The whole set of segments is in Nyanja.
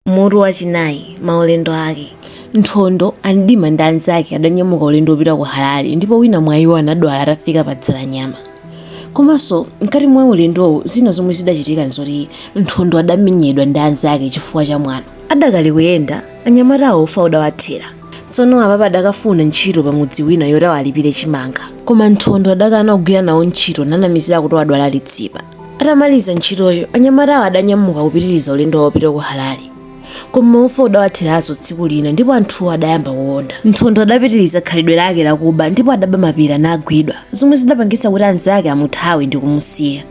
Mutu wachinayi, maulendo ake. Nthondo, a Mdima ndi anzake adanyamuka ulendo wopita ku Harare ndipo wina mwa iwo anadwala atafika pa Dzalanyama. Komanso, mkati mwa ulendowu zina zomwe zidachitika n'zoti Nthondo adamenyedwa ndi anzake chifukwa cha mwano. Adakali kuyenda, anyamatawo ufa udawathera. Tsono apapa adakafuna ntchito pamudzi wina yoti awalipire chimanga. Koma Nthondo adakana kugwira nawo ntchito nanamizira kuti wadwala litsipa. Atamaliza ntchitoyo, anyamatawo adanyamuka kupitiriza ulendo wawo wopita ku Harare. Koma ufa udawatheranso tsiku lina ndipo anthuwo adayamba kuwonda. Nthondo adapitiriza khalidwe lake lakuba ndipo adaba mapira nagwidwa, zomwe zidapangitsa kuti anzake amuthawe ndi kumusiya.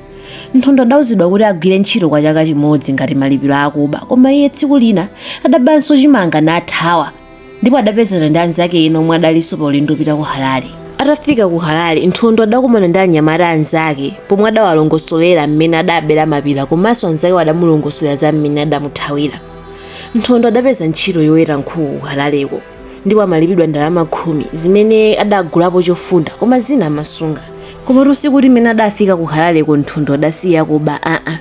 Nthondo adauzidwa kuti agwire ntchito kwa chaka chimodzi ngati malipiro a kuba koma iye tsiku lina adabanso chimanga nathawa. ndipo adapezana ndi anzake ena omwe adalinso pa ulendo wopita ku harare atafika ku harare nthondo adakumana ndi anyamata anzake pomwe adawalongosolera mmene adabera mapira komanso anzakewo adamulongosolera za mmene adamuthawira nthondo adapeza ntchito yoweta nkhuku ku harareko ndipo amalipidwa ndalama khumi zimene adagulapo chofunda koma zina amasunga komatu sikuti mmene adafika ku harareko nthondo adasiya kuba aa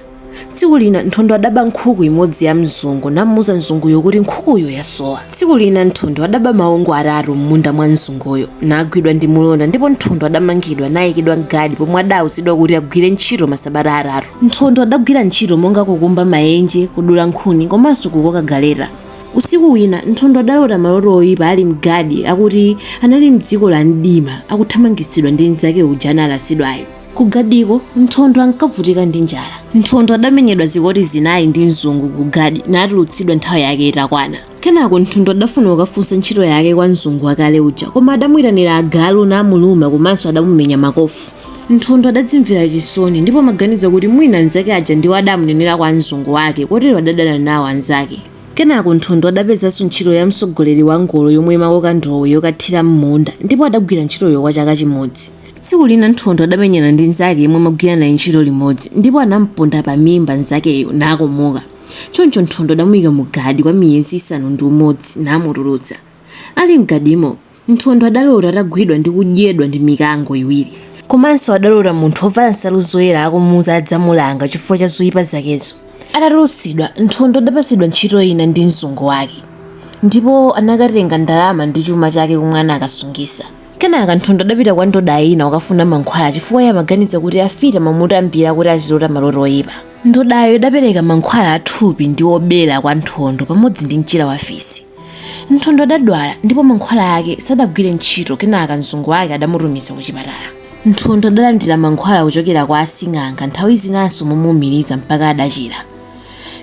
tsiku lina nthondo adaba nkhuku imodzi ya mzungu namuuza mzunguyo kuti nkhukuyo yasowa tsiku lina nthondo adaba maungu atatu m'munda mwa mzunguyo nagwidwa ndi mulonda ndipo nthondo adamangidwa nayikidwa mgadi pomwe adauzidwa kuti agwire ntchito masabata atatu nthondo adagwira ntchito monga kukumba mayenje kudula nkhuni komanso kukoka galeta usiku wina nthondo adalota maloto oyipa ali mgadi akuti anali mdziko la mdima akuthamangitsidwa ndi mnzake uja analasidwayo Ku Gadiko, Nthondo ankavutika ndi njala. Nthondo adamenyedwa zikoti zinayi ndi mzungu ku Gadi natulutsidwa nthawi yake itakwana. Kenako Nthondo adafuna kukafunsa ntchito yake kwa mzungu wakale uja, koma adamuitanira agalu namuluma komanso adamumenya makofu. Nthondo adadzimvera chisoni ndipo amaganiza kuti mwina anzake aja ndiwo adamunenera kwa mzungu wake kotero adadana nawo anzake. Kenako Nthondo adapezanso ntchito ya mtsogoleri wa ngolo yomwe imakoka ndowe yokathira m'munda ndipo adagwira ntchitoyo kwa chaka chimodzi. Tsiku lina Nthondo adamenyana ndi mnzake yemwe amagwira naye ntchito limodzi ndipo anam'ponda pamimba mnzakeyo nakomoka. Choncho Nthondo adamuika mu gadi kwa miyezi isanu ndi umodzi namutulutsa. Ali m'gadimo, Nthondo adalota atagwidwa ndi kudyedwa ndi mikango iwiri. Komanso adalota munthu wovala nsalu zoyera akumuuza adzamulanga chifukwa cha zoipa zakezo. Atatulutsidwa, Nthondo adapatsidwa ntchito ina ndi mzungu wake ndipo anakatenga ndalama ndi chuma chake komwe anakasungitsa. Kenaka Nthondo adapita kwa ndoda ina kukafuna mankhwala chifukwa iye amaganiza kuti afiti amamutambira kuti azilota maloto oyipa. Ndodayo idapereka mankhwala athupi ndi obera kwa Nthondo pamodzi ndi mchira wa fisi. Nthondo adadwala ndipo mankhwala ake sadagwire ntchito kenaka mzungu wake adamutumiza kuchipatala. Nthondo adalandira mankhwala kuchokera kwa asing'anga nthawi zinanso momuumiriza mpaka adachira.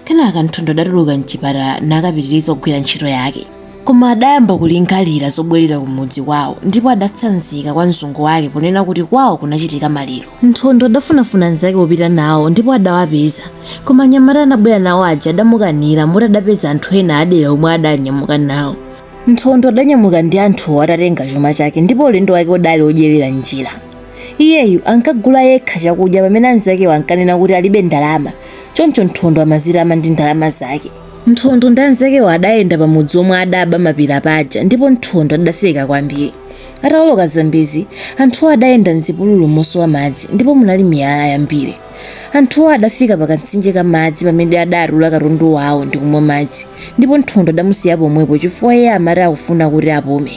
kenaka nthondo adatuluka mchipatala nakapitiriza kugwira ntchito yake koma adayamba kulingalira zobwerera kumudzi kwawo ndipo adatsanzika kwa mzungu wake ponena kuti kwawo kunachitika maliro nthondo adafunafuna anzake opita nawo ndipo adawapeza koma anyamata anabwera nawo aja adamukanira moti adapeza anthu ena adera omwe adanyamuka nawo nthondo adanyamuka ndi anthuwo atatenga chuma chake ndipo ulendo wake udali odyerera njira iyeyu ankagula yekha chakudya pamene anzakewo ankanena kuti alibe ndalama Choncho Nthondo amazitama ndi ndalama zake. Nthondo ndi anzakewo adayenda pamudzi omwe adaba mapira paja ndipo Nthondo adaseka kwambiri. Ataoloka Zambezi, anthuwo adayenda m'zipululu mosowa madzi ndipo munali miyala yambiri. Anthuwo adafika pa kamtsinje ka madzi pamene adatula katundu wawo ndi kumwa madzi ndipo Nthondo adamusiya pomwepo chifukwa iye amati akufuna kuti apume.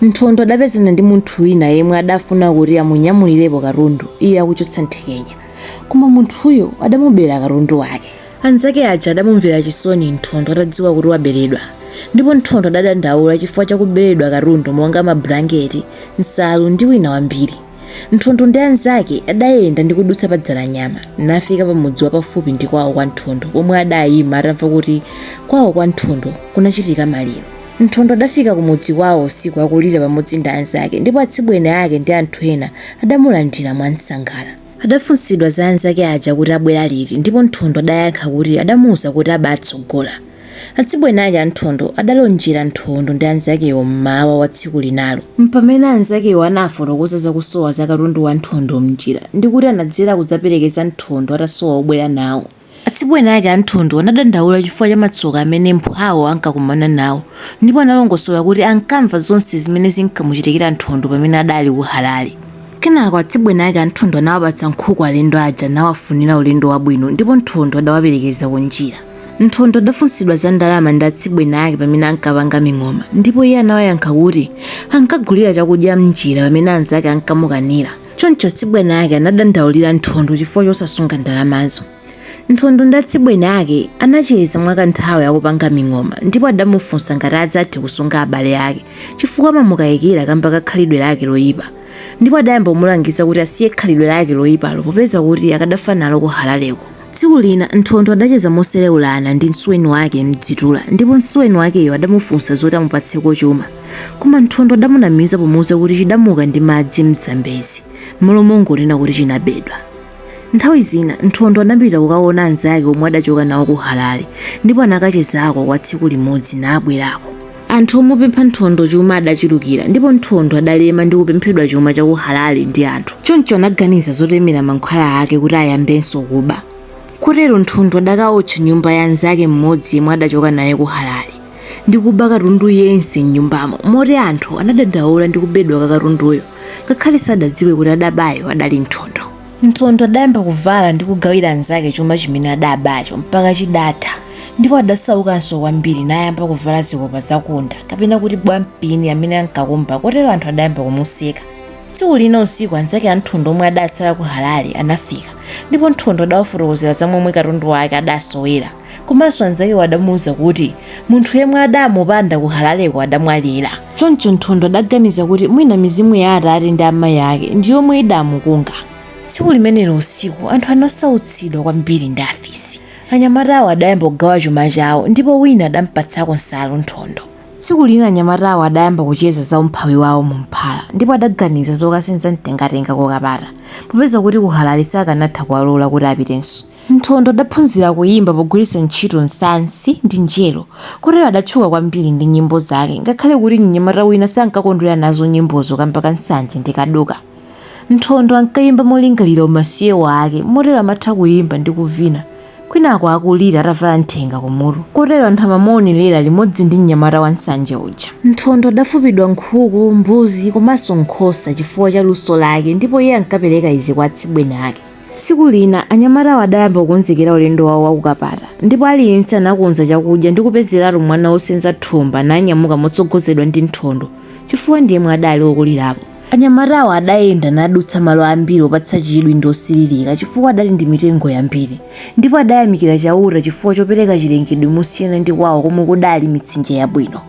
Nthondo adapezana ndi munthu wina yemwe adafuna kuti amunyamulirepo katundu iye akuchotsa nthekenya. koma munthuyo adamubera katundu wake anzake aja adamumvera chisoni nthondo atadziwa kuti waberedwa ndipo nthondo adadandaula chifukwa chakuberedwa katundu monga mablanketi nsalu ndi wina wambiri nthondo ndi anzake adayenda ndi kudutsa pa dzalanyama nafika pa mudzi wapafupi ndi kwawo kwa nthondo pomwe adayima atamva kuti kwawo kwa nthondo kunachitika maliro Nthondo adafika kumudzi kwawo usiku akulira pamodzi ndi anzake ndipo atsibweni ake ndi anthu ena adamulandira mwansangala. Adafunsidwa za anzake aja kuti abwera liti ndipo Nthondo adayankha kuti adamuuza kuti abaatsogola. Atsibweni ake a Nthondo adalonjera Nthondo ndi anzakewo m'mawa wa tsiku linalo. Mpamene anzakewo anafotokoza za kusowa za katundu wa Nthondo m'njira ndi kuti anadzera kudzaperekeza Nthondo atasowa obwera nawo. Atsibweni ake a Nthondo anadandaula chifukwa cha matsoka amene mphwawo ankakumana nawo ndipo analongosola kuti ankamva zonse zimene zinkamuchitikira Nthondo pamene adali ku Halale. Kenako atsibweni ake a Nthondo anawapatsa nkhuku alendo aja nawafunira ulendo wabwino ndipo Nthondo adawaperekeza kunjira. Nthondo adafunsidwa za ndalama ndi atsibweni ake pamene ankapanga ming'oma ndipo iye anawayankha kuti ankagulira chakudya m'njira pamene anzake ankamukanira. choncho atsibweni ake anadandaulira Nthondo chifukwa chosasunga ndalamazo. Nthondo ndi atsibweni ake anacheza mwakanthawi akupanga ming'oma ndipo adamufunsa ngati adzathe kusunga abale ake chifukwa amamukayikira kamba ka khalidwe lake loyipa ndipo adayamba kumulangiza kuti asiye khalidwe lake loyipalo popeza kuti akadafa nalo ku Halaleko. Tsiku lina Nthondo adacheza moseleulana ndi msuweni wake Mdzitula ndipo msuweni wakeyo adamufunsa zoti amupatseko chuma. Koma Nthondo adamunamiza pomuuza kuti chidamuka ndi madzi m'Zambezi mmalo mongonena kuti chinabedwa. Nthawi zina Nthondo anapita kukaona anzake omwe adachoka nawo ku Halale ndipo anakachezako kwa tsiku limodzi nabwerako. Anthu omupempha Nthondo chuma adachulukira ndipo Nthondo adalema ndi kupemphedwa chuma cha ku Halale ndi anthu. Choncho anaganiza zotemera mankhwala ake kuti ayambenso kuba. Kotero Nthondo adakaotcha nyumba ya anzake mmodzi yemwe adachoka naye ku Halale ndi kuba katundu yense m'nyumbamo moti anthu anadandaula ndi kubedwa kwa katunduyo ngakhale sadadziwe kuti adabayo adali Nthondo. Nthondo adayamba kuvala ndi kugawira anzake chuma chimene adabacho mpaka chidatha ndipo adasaukanso kwambiri nayamba kuvala zikopa zakunda kapena kuti bwampini amene ankakumba kotero anthu adayamba kumuseka. Tsiku lina usiku anzake a Nthondo omwe adatsala ku Halale anafika ndipo Nthondo adawafotokozera za momwe katundu wake adasowera. komanso anzakewo adamuuza kuti munthu yemwe adamupanda ku halaleko adamwalira choncho nthondo adaganiza kuti mwina mizimu ya atate ndi amayi ake ndi yomwe idamukunga tsiku limenelo usiku anthu anasautsidwa kwambiri ndi afisi anyamatawo adayamba kugawa chuma chawo ndipo wina adampatsako nsalu nthondo tsiku lina anyamatawo adayamba kucheza za umphawi wawo mu mphala ndipo adaganiza zokasenza mtengatenga ku kapata popeza kuti ku halale sakanatha kuwalola kuti apitenso Nthondo adaphunzira kuyimba pogwiritsa ntchito nsansi ndi njero kotero adatchuka kwambiri ndi nyimbo zake ngakhale kuti mnyamata wina sankakondwera nazo nyimbozo kamba ka nsanje ndi kaduka. Nthondo ankayimba molingalira umasiye wake motero amatha kuyimba ndi kuvina kwinaku akulira atavala nthenga kumutu kotero anthu amamuonerera limodzi ndi mnyamata wa nsanje uja. Nthondo adafupidwa nkhuku, mbuzi komanso nkhosa chifukwa cha luso lake ndipo iye ankapereka izi kwa atsibweni ake. Tsiku lina anyamatawo adayamba kukonzekera ulendo wawo wa ku Kapata ndipo aliyense anakonza chakudya ndi kupezeratu mwana wosenza thumba nanyamuka motsogozedwa ndi Nthondo chifukwa ndi yemwe adali wokulirapo. Anyamatawo adayenda nadutsa malo ambiri opatsa chidwi ndi osiririka chifukwa adali ndi mitengo yambiri ndipo adayamikira Chauta chifukwa chopereka chilengedwe mosiyana ndi kwawo komwe kudali mitsinje yabwino.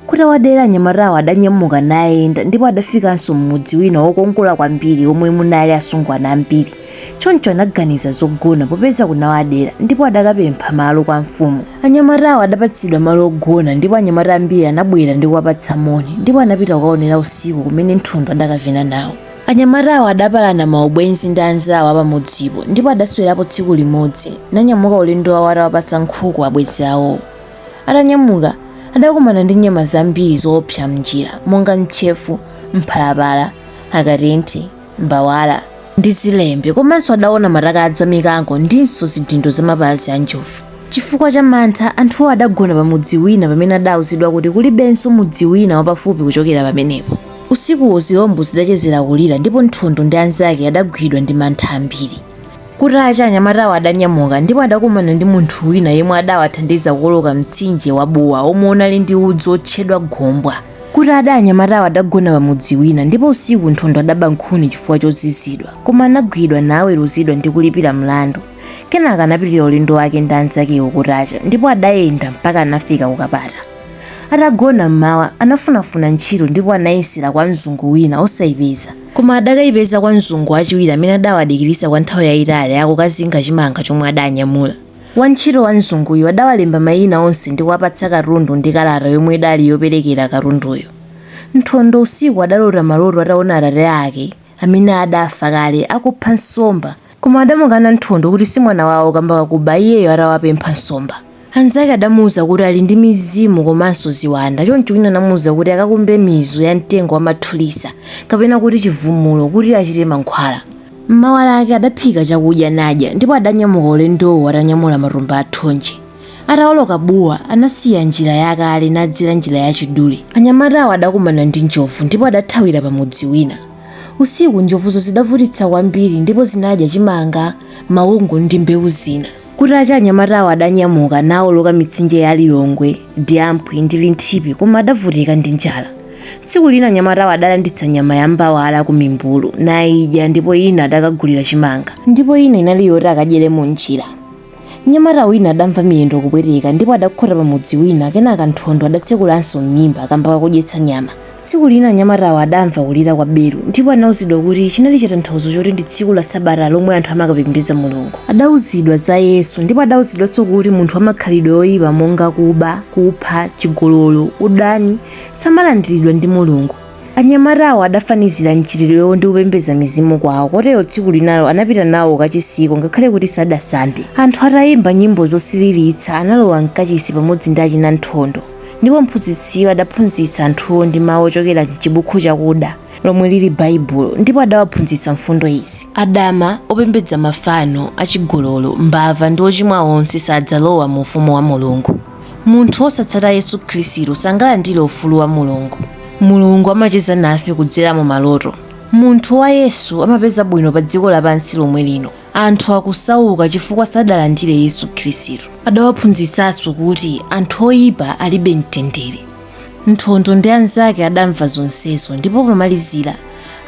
Kutawadera anyamatawo adanyamuka nayenda ndipo adafikanso m'mudzi wina wokongola kwambiri womwe munali asungwana ambiri. Choncho anaganiza zogona popeza kunawadera ndipo adakapempha malo kwa mfumu. Anyamatawo adapatsidwa malo ogona ndipo anyamata ambiri anabwera ndi kuwapatsa moni ndipo anapita kukaonera usiku kumene Nthondo adakavina nawo. Anyamatawo adapalana maubwenzi ndi anzawo a pamudzipo ndipo adaswerapo tsiku limodzi nanyamuka ulendo wawo atawapatsa nkhuku abwenzi awowo. Atanyamuka, adakumana ndi nyama zambiri zoopsa m'njira monga ntchefu, mphalapala, akatenti, mbawala ndi zilembe komanso adaona mataka a mikango ndinso zidindo za mapazi a njovu. Chifukwa cha mantha, anthuwo adagona pa mudzi wina pamene adauzidwa kuti kulibenso mudzi wina wapafupi kuchokera pamenepo. Usikuwo zilombo zidachezera kulira ndipo Nthondo ndi anzake adagwidwa ndi mantha ambiri. Kutacha anyamatawo adanyamuka ndipo adakumana ndi munthu wina yemwe adawathandiza kuwoloka mtsinje wa Buwa omwe unali ndi udzu otchedwa Gombwa. Kutada anyamatawo adagona pa mudzi wina ndipo usiku Nthondo adaba nkhuni chifukwa chozizidwa koma anagwidwa naweruzidwa ndi kulipira mlandu. Kenaka anapitira ulendo wake ndi anzakewo kutacha ndipo adayenda mpaka anafika ku Kapata. Atagona mmawa anafunafuna ntchito ndipo anayesera kwa mzungu wina osayipeza. Koma adakaipeza kwa mzungu wachiwiri amene adawadikiritsa kwa nthawi yaitali akukazinga chimanga chomwe adanyamula. Wantchito wa mzunguyo adawalemba maina onse ndi kuwapatsa katundu ndi kalata yomwe idali yoperekera katunduyo. Nthondo usiku adalota maloto ataona atate ake, amene adafa kale, akupha nsomba. Koma adamukana Nthondo kuti si mwana wawo kamba kakuba iyeyo atawapempha nsomba. Anzake adamuuza kuti ali ndi mizimu komanso ziwanda choncho wina anamuuza kuti akakumbe mizu ya mtengo wa mathulisa kapena kuti chivumulo kuti achite mankhwala. M'mawa lake adaphika chakudya nadya ndipo adanyamuka ulendowo atanyamula matumba a thonje. Ataoloka Buwa anasiya njira yakale nadzera njira yachidule. Anyamatawo adakumana ndi njovu ndipo adathawira pamudzi wina. Usiku njovuzo zidavutitsa kwambiri ndipo zinadya chimanga, mawungu ndi mbewu zina. Kutacha anyamatawo adanyamuka nawoloka mitsinje ya Lilongwe, Diamphwi ndi Linthipi koma adavutika ndi njala. Tsiku lina anyamatawo adalanditsa nyama ya mbawala ku mimbulu nayidya ndipo ina adakagulira chimanga ndipo ina inali yoti akadyere munjira. mnyamata wina adamva miyendo kupweteka ndipo adakhota pa mudzi wina kenaka nthondo adatsekulanso m'mimba kamba kakudyetsa nyama tsiku lina anyamatawo adamva kulira kwa belu ndipo anauzidwa kuti chinali chitanthauzo choti ndi tsiku la sabata lomwe anthu amakapembedza mulungu adauzidwa za yesu ndipo adauzidwanso kuti munthu wamakhalidwe oyipa monga kuba kupha chigololo udani samalandiridwa ndi mulungu Anyamatawo adafanizira mchitidwewo ndi kupembedza mizimu kwawo, kotero tsiku linalo anapita nawo kachisiko ngakhale kuti sadasambe. Anthu atayimba nyimbo zosiririrtsa, analowa m'kachisi pamodzi ndi achina Nthondo, ndipo mphunzitsiyo adaphunzitsa anthuwo ndi mawu ochokera m'chibukhu chakuda, lomwe lili Baibulo, ndipo adawaphunzitsa mfundo izi, adama, opembedza mafano, achigololo, mbava ndi ochimwa onse sadzalowa mu Ufumu wa Mulungu. Munthu wosatsata Yesu Khristu sangalandire ufulu wa Mulungu. Mulungu amacheza nafe kudzera mu maloto. Munthu wa Yesu amapeza bwino pa dziko lapansi lomwe lino. Anthu akusauka chifukwa sadalandire Yesu Khristu. Adawaphunzitsanso kuti anthu oyipa alibe mtendere. Nthondo ndi anzake adamva zonsezo ndipo pomalizira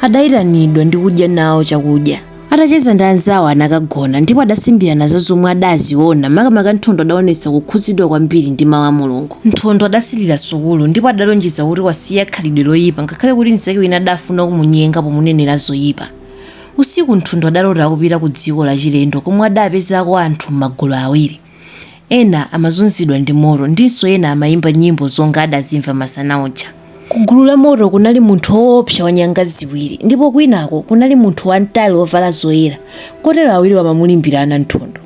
adayitanidwa ndi kudya nawo chakudya. Atacheza ndi anzawo anakagona ndipo adasimbirana za zomwe adaziona makamaka Nthondo adaonetsa kukhudzidwa kwambiri ndi mawu a Mulungu. Nthondo adasilira sukulu ndipo adalonjeza kuti wasiya khalidwe loyipa ngakhale kuti mzake wina adafuna kumunyenga pomunenera zoyipa. Usiku Nthondo adalota kupita kudziko lachilendo komwe adapezako anthu m'magulu awiri. Ena amazunzidwa ndi moto ndinso ena amayimba nyimbo zonga adazimva masana uja. Ku gulu la moto kunali munthu oopsa wa nyanga ziwiri ndipo kwinako kunali munthu wamtali wovala zoyera, kotero awiriwa amamulimbirana Nthondo.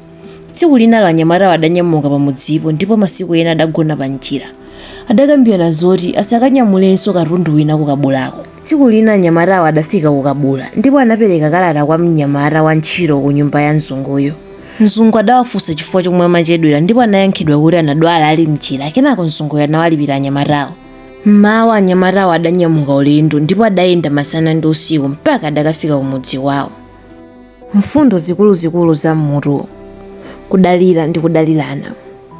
Tsiku linalo anyamatawo adanyamuka pa mudzipo ndipo masiku ena adagona pa njira. Adakambirana zoti asakanyamulenso katundu wina ku Kabulako. Tsiku lina anyamatawo adafika ku Kabula ndipo anapereka kalata kwa mnyamata wantchito kunyumba ya mzunguyo. Mzungu adawafunsa chifukwa chomwe amachedwera ndipo anayankhidwa kuti anadwala ali m'njira kenako mzunguyo anawalipira anyamatawo. M'mawa anyamatawo adanyamuka ulendo ndipo adayenda masana ndi usiku mpaka adakafika kumudzi wawo. Mfundo zikuluzikulu za m'mutuwu, Kudalira ndi kudalirana.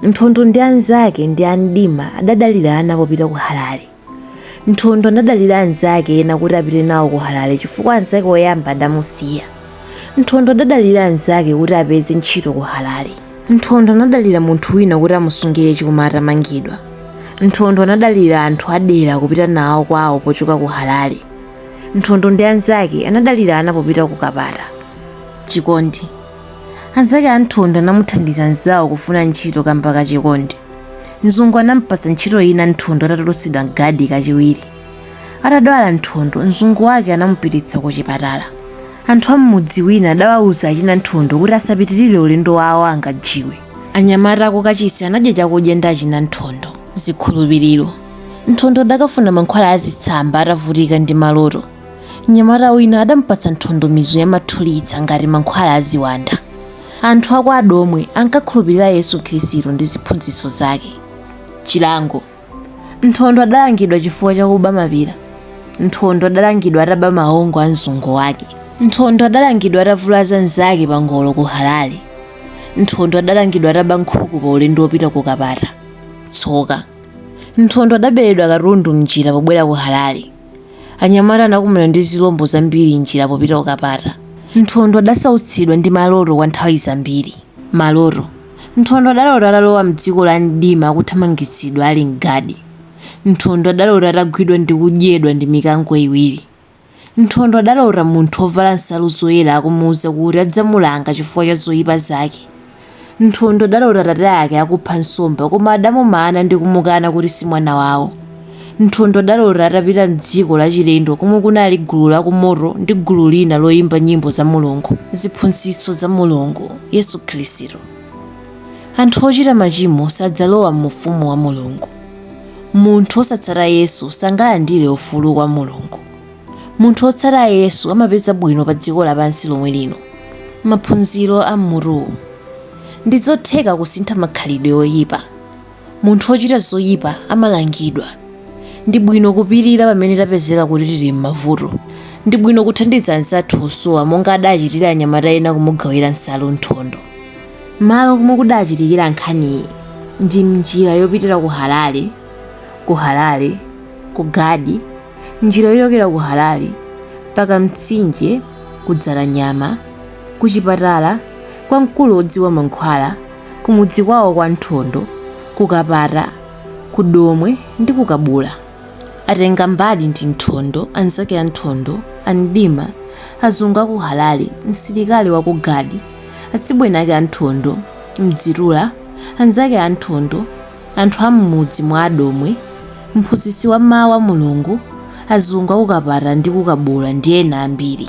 Nthondo ndi anzake ndi a Mdima adadalirana popita ku Halale. Nthondo anadalira anzake ena kuti apite nawo ku Halale chifukwa anzake oyamba adamusiya. Nthondo adadalira anzake kuti apeze ntchito ku Halale. Nthondo anadalira munthu wina kuti amusungire chuma atamangidwa. Nthondo anadalira anthu adera kupita nawo kwawo pochoka ku Halale. Nthondo ndi anzake anadalirana popita ku Kapata. Chikondi. Anzake a Nthondo anamuthandiza mzawo kufuna ntchito kamba ka chikondi. Mzungu anampatsa ntchito ina Nthondo atatulutsidwa mgadi kachiwiri. Atadwala Nthondo, mzungu wake anamupititsa ku chipatala. Anthu a m'mudzi wina adawauza achina Nthondo kuti asapitirire ulendo wawo angajiwe. Anyamata a ku kachisi anadya chakudya ndi achina Nthondo. Zikhulupiriro. Nthondo adakafuna mankhwala a zitsamba atavutika ndi maloto. mnyamata wina adampatsa nthondo mizu yamathulitsa ngati mankhwala a ziwanda anthu a kwa adomwe ankakhulupirira yesu khristu ndi ziphunzitso zake chilango nthondo adalangidwa chifukwa chakuba mapira nthondo adalangidwa ataba maongo a mzungu wake nthondo adalangidwa atavulaza anzake pa ngolo ku halale nthondo adalangidwa ataba nkhuku pa ulendo wopita ku kapata tsoka nthondo adaberedwa katundu mnjira pobwera ku halale Anyamata anakumana ndi zilombo zambiri m'njira popita ku Kapata. Nthondo adasautsidwa ndi maloto kwa nthawi zambiri. Maloto Nthondo adalota atalowa m'dziko la mdima akuthamangitsidwa ali m'gadi. Nthondo adalota atagwidwa ndi kudyedwa ndi mikango iwiri. Nthondo adalota munthu wovala nsalu zoyera akumuuza kuti adzamulanga chifukwa cha zoipa zake. Nthondo adalota atate ake akupha nsomba koma adamumana ndi kumukana kuti si mwana wawo. Nthondo adalota atapita m'dziko lachilendo komwe kunali gulu la kumoto ndi gulu lina loimba nyimbo za Mulungu. Ziphunzitso za Mulungu, Yesu Khristu. Anthu ochita machimo sadzalowa mu Ufumu wa Mulungu. Munthu wosatsata Yesu sangalandire ufulu kwa Mulungu. munthu wotsata yesu amapeza bwino pa dziko lapansi lomwe lino maphunziro a mmutuwu ndi zotheka kusintha makhalidwe oyipa munthu wochita zoyipa amalangidwa ndi bwino kupirira pamene tapezeka kuti tili m'mavuto ndi bwino kuthandiza anzathu osowa monga adachitira anyamata ena kumugawira nsalu nthondo malo komwe kudachitikira nkhaniyi ndi mnjira yopitira ku harare ku harare ku gadi njira yochokera ku Harare mpaka mtsinje ku Dzalanyama, ku chipatala kwa mkulu wodziwa mankhwala, ku mudzi kwawo kwa Nthondo, ku Kapata, ku Domwe ndi ku Kabula. Atengambali ndi Nthondo, anzake a Nthondo, a Mdima, azungu a ku Harare, msilikali wa ku Gadi, atsibweni ake a Nthondo, Mdzitula, anzake a Nthondo, Anthu a m'mudzi mwa a Domwe, mphunzitsi wa mawu a Mulungu, azungu a ku Kapata ndi ku Kabula ndi ena ambiri.